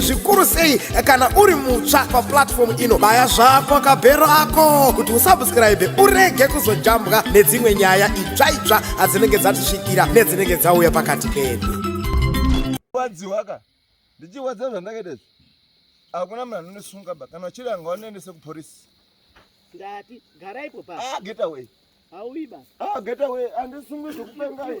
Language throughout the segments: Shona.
zvikuru sei kana uri mutsva paplatform ino baya zvako kabhero ako kuti usubscribe urege kuzojambwa nedzimwe nyaya itsva itsva adzinenge dzatisvikira nedzinenge dzauya pakati pedu ndichiwadza zvandakaita izvi hakuna munhu anonesunga ba kana uchiri anga wanoendese kuporisi ndati garaipo pa ah, get away hauiba ah, get away andisungwe zvekupengai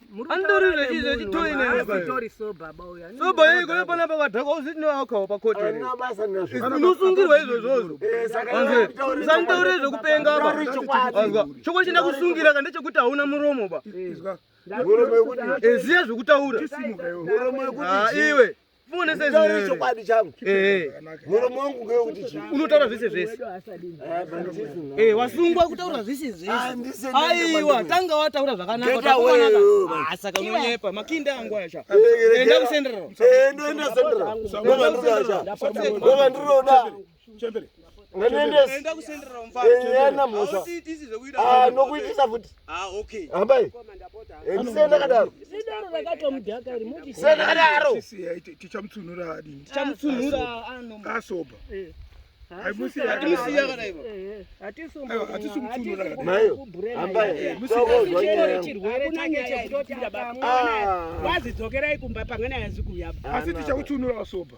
Andorira chizvo chitoyi ne baba. Story so baba uya. So baba yeye kwa pana baba dhako uziti no alcohol pa court. Ana basa nazvo. Unosungirwa izvo izvozvo. Eh saka sandaure zvokupenga apa. Azwa. Choko chinda kusungira kande chekuti hauna muromo ba. Muromo wekuti. Eziya zvokutaura. Muromo wekuti. Ah iwe. chokwadi changu muromo wangu ngewekuti chii unotaura zvese zvese eh, wasungwa kutaura zvese zvese aiwa tanga wataura zvakanakasaka unonyepa makinda angu asha enda kusenderera eh, enda senderera ndovandiroda chembere nganoendesa ena mhosva ah, nokuitisa futi ah, hambai eh, ndisenda kadaro senda kadaro tichamutsunura adini tichamutsunura ah, anoba asoba eh. vazidzokerai kumba pamwe nayazi kuya asi tichakutsunura asoba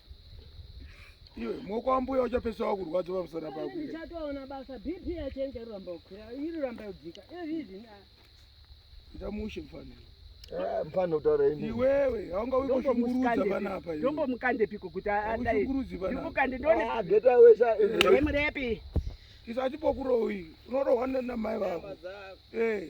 Iwe moko ambuya uchapesa wakurwadza pamusana pako. Ndichatoona basa BP yachenje ramba ukwira iri ramba udzika. Izvi izvi na. Ndamushe mfana. Eh, mfana utaura ini. Iwewe haunga uko shungurudza bana apa iwe. Ndombo mukande piko kuti adai. Shungurudzi bana. Ndimukande ndone. Ah, geta wesa. Wemurepi. Isati pokurowi. Unorohwa na mai vako. Eh.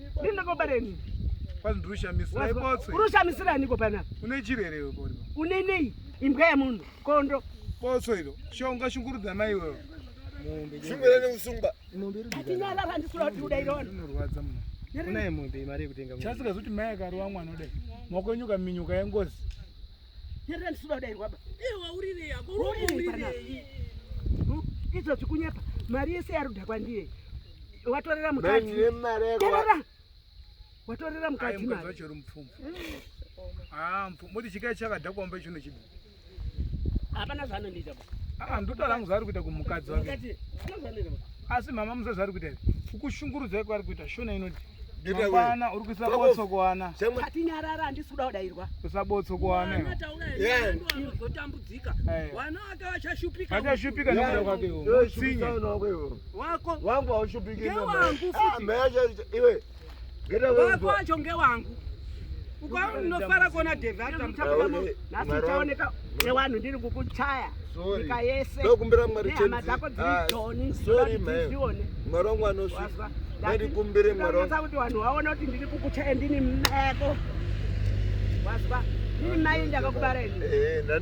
Ndini ndakobara ini. Kwani ndiri kushamisira ikotswe. Uri kushamisira niko pana? Une chirwere iwe pori. Une nei? Imbwa yemunhu, kondo. Kotso iro. Shonga shungurudza mai iwewe. Mombe. Shungurudza nekusungwa. Mombe iri. Atinyala randisura kuti uda irona. Inorwadza mna. Unaye mombe mari yekutenga. Chasika zoti mai akarowa mwana udayi. Maoko enyu kaminyuka yengozi. Nyarira ndisuda kudairwa ba. Eh waurirei yako waurirei. Hmm? Idzo zvikunyepa. Mari yese yaruda kwandiri. Watorera mukadzi. Terera. Watorera mukadzi mari. Ayo mukadzi mupfumvu. Ah, mupfumvu. Moti chikai chakadhakwa mbe chino chibi. Hapana zvanondiita ba. Ah, ndoda rangu zvaari kuita kumukadzi wake asi mama musa zvaari kuita kukushungurudza iko ari kuita shona inoti mangwana uri kuisa botso kuana atinyarara handisi kuda kudairwa kuisa botso kuanaozotambudzika vana vake vachashupika vachashupika nekuda kwake utsinye wako wangu haushupiki ah, iwe Wako wacho ngewangu. Ukaona unofara kuona Devi atamutapamo nhasi uchaoneka newanhu ndiri kukuchaya nyika yese nehama dzako dziri ah, joni zvione mwari wangu anosvika ndikumbire mwari wangu kuti vanhu vaona kuti ndiri kukuchaya ndini meko wazwa ndini mai ndakakubara ini eh,